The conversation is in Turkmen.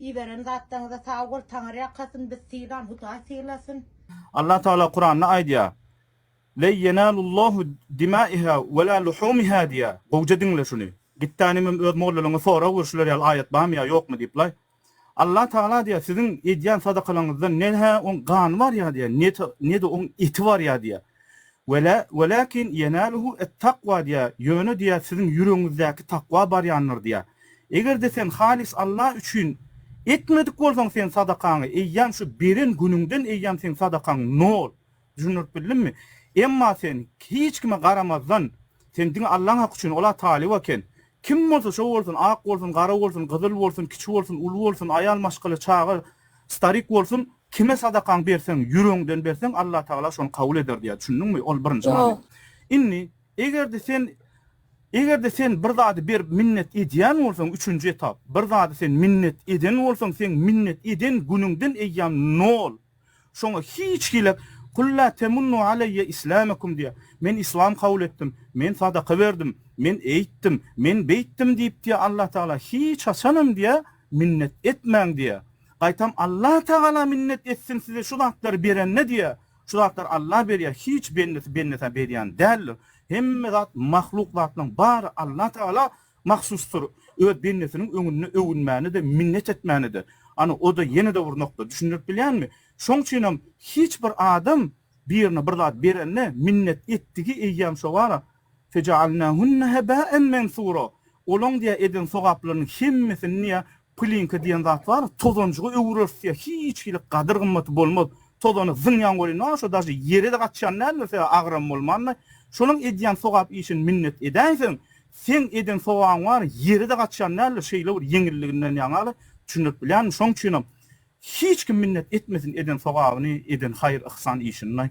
Iberen zatlaryňyza sag bol Taňar ýakasyn biz sylan Hudaý sylasyn. Allah Taala Kuranda aýdýar Len ýenalullahu dimaiha wela luhumiha diýýär gowja diňle şuny gitdänimem öz mollalaňa sora gör şular ýaly aýat barmy ýa ýokmy diýip laý Allah Taala diýýär siziň edýän sadakalaňyzda ne hä oň gany barýa diýýär ne de oň eti barýa diýýär. Wela, welakin ýenaluhu et-takwa diýýär, ýöne diýýär, siziň ýüregiňizdäki takwa barýandyr diýýär. Eger-de sen halys Allah üçin etmedik bolsaň sen sadakaňy, eýýäm şu beren günüňden eýýäm seň sadakaň nol. Düşündirip bildimmi? Emma sen hiç kime garamazdan, Sen diňe Allaň haky üçin, ol-a talyp eken. Kim bolsa şo bolsun, ak bolsun, gara bolsun, gyzyl bolsun, kiçi bolsun, uly bolsun, aýal, maşgala, çaga, starik bolsun, kime sadakaňy berseň, ýüregiňden berseň, Allatagala şony kabul eder diýýär. Düşündiňmi? Ol birinji many. Indi, eger-de sen, eger-de sen bir zady berip minnet edýän bolsaň, üçünji etap, bir zady sen minnet eden bolsaň, seň minnet eden günüňden eýýäm nol. Şoňa hiç hili Kul la temunnu aleýe islamakum diýýär. Men yslam kabul etdim, men sadaka berdim, men eýtdim, men beýtdim diýip diýýär Allah Tagala. Hiç haçanam diýýär, minnet etmäň diýýär. Gaýtam Allah Tagala minnet etsin size şu zatlary berende diýýär. Şu zatlary Allah berýär, hiç bendesi bendesä berýän däldir. Hemme zat mahluk zatlaryň bary Allah Tagala mahsusdyr, öz bendesiniň öňünde öwünmäni-de, minnet etmäni-de. Ana, o-da ýene-de bir nokta, düşündirip bilýänmi? Şoň üçinem hiç bir adam birine bir zat berende, minnet etdigi eýýäm şo bar-a, Feja'alnahunna heba'en mensura, olaň diýýär eden sogaplarynyň hemmesini diýýär Plinka diýen zat bar, tozanjyga öwürersiz ýa hiç hili gadyr-gymmaty bolmaz. Tozany zyňýaň welin a şo daşy ýere-de gaçýan däldir, sebäbi agram bolmandyr. Şonuň edýän sogap işini minnet edäýseň, seň eden sogabyň bary ýere-de gaçýan däldir, şeýle bir ýeňilliginden ýaňaly düşündirip bilýänmi? Şonuň üçinem hiç kim minnet etmesin eden sogabyny, eden haýyr-yhsan işini.